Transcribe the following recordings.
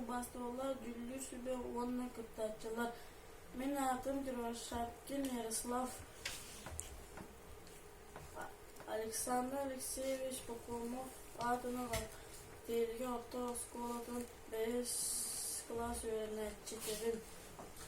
Бостуолла дьүүллүүр сүбэ уонна кыттааччылар «Мин аатым Дровошапкин Ярослав, Александр Алексеевич Покомов аатынан Тиэлгэ орто оскуолатын бэһис кылаас үөрэнээччитибин.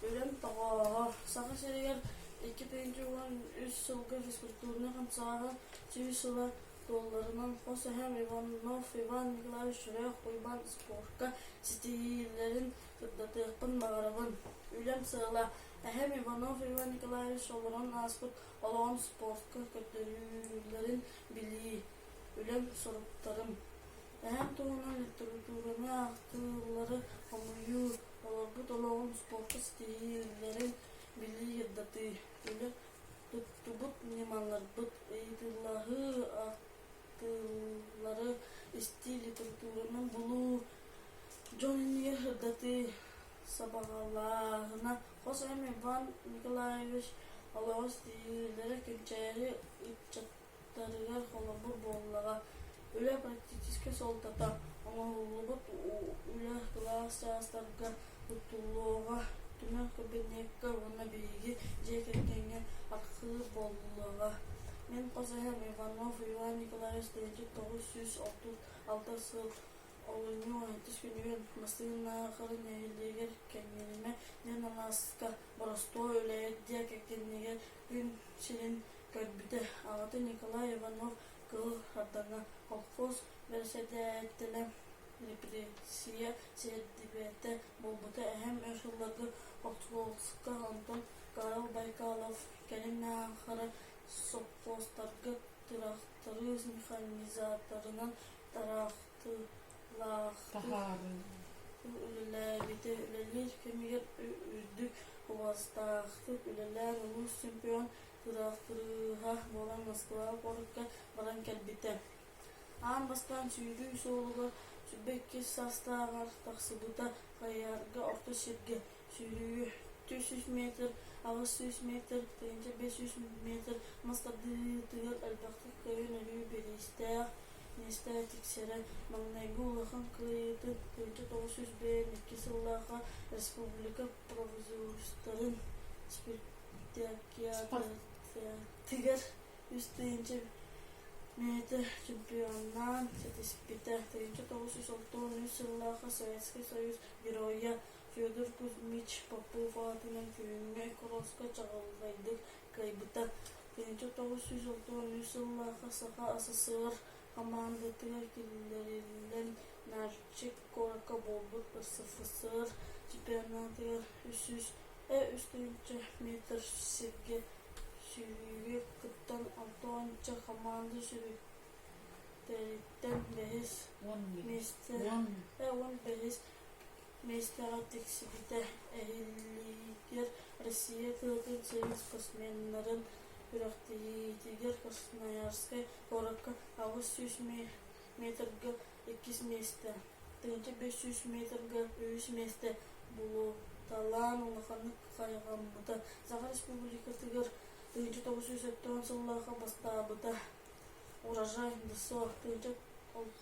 Үлэм тоҕооҕо. Саха сиригэр икки тыһыынча уон үс сылга физкультурнай хамсааһын сүүс сыла туолларынан хос эһэм Иванов Иван Николаевич Үрэх-Уйбаан спорка ситиһиилэрин сырдатыахпын баҕарабын. Үлэм сыала эһэм Иванов Иван Николаевич олорон ааспыт олоҕум спортка көрдөрүүлэрин билии, үлэм соруктарым. Эһэм туһунан литератураны ааҕыылары хомуйуу, олорбут олоҕум спортка ситиһиилэрин билии, ирдатыы, үлэ Туттубут ньымаларбыт ыйытыылаһыы ахтыылары истии, литературанан булуу, дьон иннигэ сырдатыы сабаҕалааһына, хос эм Иван Николаевич олоҕос тириэрдэрэ, кэнчээри ыччат утарыгар холобур буоллаҕа үлэ практическай суолтата оҥоһуллубут үлэ кылаас чаастарга туттуллуоҕа түмэл кабинекка уонна биһиги дьиэ кэргэҥҥэ архыып буоллаҕа мин хос эһэм иванов иван николаевич тэйиччик тоҕус сүүс алтыс алта сыл олунньу алтыс күнүгэр массыына халыҥ нэһилиэгэр кэннилимэ диэн алааска боростуой үлэһит дьиэ кэргэнигэр күн сирин кэлбитэ. Аҕата Николай Иванов Кыыл Ардаҥа колхоз бэрэссэдээтэлэ, репрессия сэрдибэтэ буолбута. Эһэм өр сылларга хортуоска, онтон Карл Байкалов кэлин аахара сопхуостарга тыраахтары механизаторынан тараахтыылаахтык үлэлээбитэ. Үлэлиир кэмигэр үрдүк кубаластаахтык үлэлээн улуус чемпион Тураахтырыыһа буолан Москваҕа куоракка баран кэлбитэ. Аан бастаан сүүрүү суолугар сүүрбэ иккис саастааҕар тахсыбыта, хайыһарга орто сиргэ сүүрүү түөрт сүүс метр, аҕыс сүүс метр, тыһыынча биэс сүүс метр мас тардыытыгар элбэхтик көйөн-өрүү бириистээх миэстэҕэ тиксэрэ. Маҥнайгы улахан кыайыытын тыһыынча тоҕус сүүс биэс икки сыллаахха республика Обзорстарын спартакиадатыгар үс тыһыынча миэтэ чемпионаан ситиспитэ. Тыһыынча тоҕус сүүс алта уон үс сыллааҕы Советский Союз Геройа Федор Кузьмич Попов аатынан күҥҥэ кросска чаҕылхайдык кыайбыта. Тыһыынча тоҕус сүүс алта уон үс сыллааҕы Саха СССР Хамаандатыгар киллэриллэн Нальчик куоракка буолбут СФСР чемпионатыгар үс сүүс үс тыһыынча метр сиргэ сүүрүүгэ кыттан алта уонча хамаанда сүрүнтэриттэн бэһис миэстэ уон бэһис Миэстэҕэ тиксибитэ эһиллиитигэр Россия тылытын сүрүн спортсменнарын күрэхтэһиитигэр Красноярскай куоракка аҕыс сүүс метргэ иккис миэстэ, тыһыынча бэс сүүс метрга үһүс миэстэ булуталаан улаханнык хайҕаммыта. Саха Республикатыгар тыһыынча тоҕус сүүс өттөҕүн сыллаахха бастаабыта. Урожай ДСО тыһыынча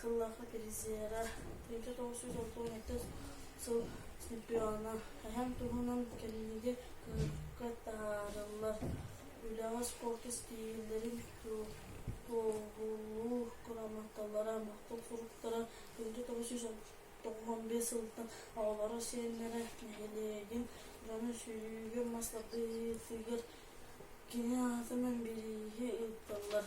тыллаахха киризиэрэ трита тоҕус сүүс отуон иккис сыл чемпиона эһэм туһунан кэлиниги кыырка таарыллар үлэҕэ спорт истиилэрин туоһулуу грамоталара махтал суруктара трита тоҕус сүүс тоҕуон биэс сылтан оҕолоро сиэннэрэ нэһилиэгин дьоно-сүүрүгүн мас тардыытыгар кини аатынан бирииһи ыыттылар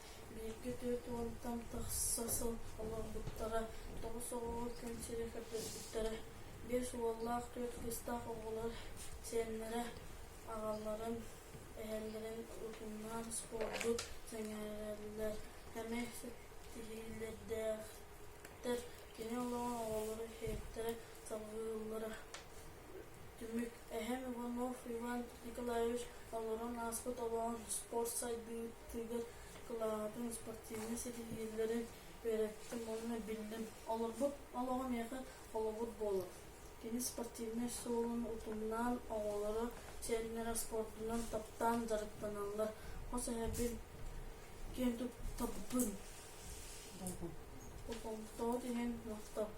Бииргэ түөрт уонтан тахса сыл олорбуттара, тоҕус оҕоҕо күн сирэ көппүттэрэ. Биэс уоллаах, түөрт кыыстаах оҕолор сиэннэрэ, аҕаларын, эһэлэрин утумнаан спорду сэҥээрэллэр, эмэ ситиһиллэрдээхтэр. Кини олоҕо оҕолору иһиттэрэ салҕыыллара. Түмүк эһэм Иванов Иван Николаевич толорон ааспыт олоҕун спорт сайдыытыгар кылааһатын спортивнай ситиһиилэрин үөрэттим уонна биллим. Олорбут олоҕо миэхэ холобур буолар. Кини спортивнай суолун утумнаан, оҕолоро, сиэннэрэ спордунан таптаан дьарыктаналлар. Хос эһэбин киэн туттабын. Болҕомтоҕут иһин махтал.